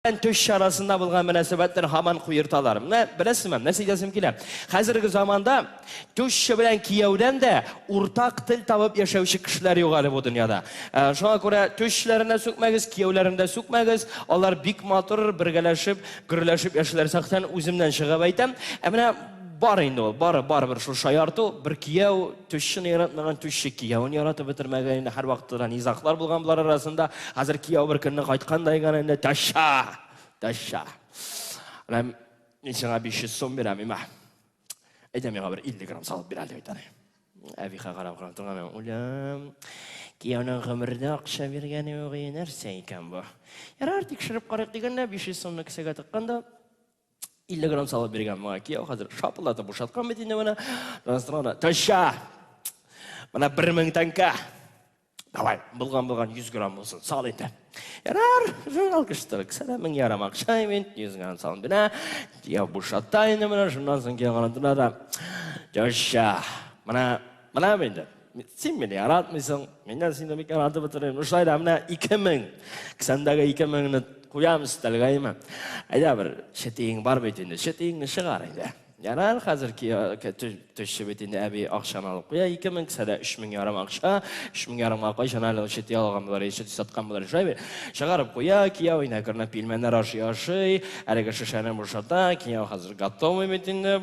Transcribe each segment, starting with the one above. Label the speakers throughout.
Speaker 1: белән төш чарасында булган мөнәсәбәтләр һаман куерталар. Менә беләсезме, нәрсә әйтәсем килә? Хәзерге заманда төшче белән кияүдән дә уртак тел табып яшәүче кешеләр юк әле бу дөньяда. Ә, шуңа күрә төшчеләрен дә сүкмәгез, кияүләрен дә сүкмәгез. Алар бик матур, бергәләшеп, гөрләшеп яшиләр. Сәхтән үземнән чыгып әйтәм. Ә менә бар инде ул, бар, барыбер шул шаярту, бер кияү, Тушчыны яратмаган тушчы кияүен яратып бетермәгән инде һәрвакытта да низаклар булган болар арасында. Хәзер кияү бер көнне кайткандай гына инде ташша, ташша. Менә мин сиңа 500 сум бирәм, имә. Әйдә миңа бер 50 грамм салып бир әле битәр. Әбихә карап карап торган мен, үләм. Кияүнең гомердә акча биргәне юк, нәрсә икән бу? Ярар, тикшереп карыйк дигәндә 500 сумны кесәгә тыкканда, 50 грамм салып биргән моңа кияү хәзер шапылдатып бушаткан бит инде менә настроена таща менә бер мең тәңкә давай булган булган 100 грамм булсын сал инде ярар журнал кыштырык сәлә мең ярым акча мин 100 грамм салам бирә кияү бушата инде менә шуннан соң кияү гранатына да таща менә менә инде Син мине яратмыйсың, мин дә сине бик яратып утырыйм. Ну шулай да менә 2000. Кесәмдәге 2000-ны куям өстәлгә име. Әйдә бер читиең бар бит инде. Читиеңне чыгар инде. Ярар, хәзер төшче бит инде әби акчаны алып куя. 2000 кесәдә 3000 ярым акча. 3000 ярымга кайчан әле чити алган булар, чити саткан булар. Шулай бит. Чыгарып куя, кияү инә күренә пилмәннәр ашый-ашый. Әлеге шешәне бушата, кияү хәзер готовый бит инде.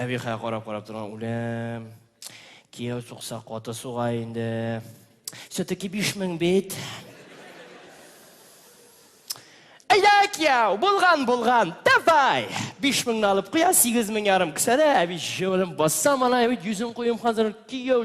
Speaker 1: Әбихая карап карап торган үләм. Кияү сукса каты суга инде. Все-таки биш мең бит. Әйдә, кияү, булган, булган, давай! Биш меңне алып куя, сигез мең ярым кесәдә, әби җылым баса, малай, йөзен куем хәзер, кияү,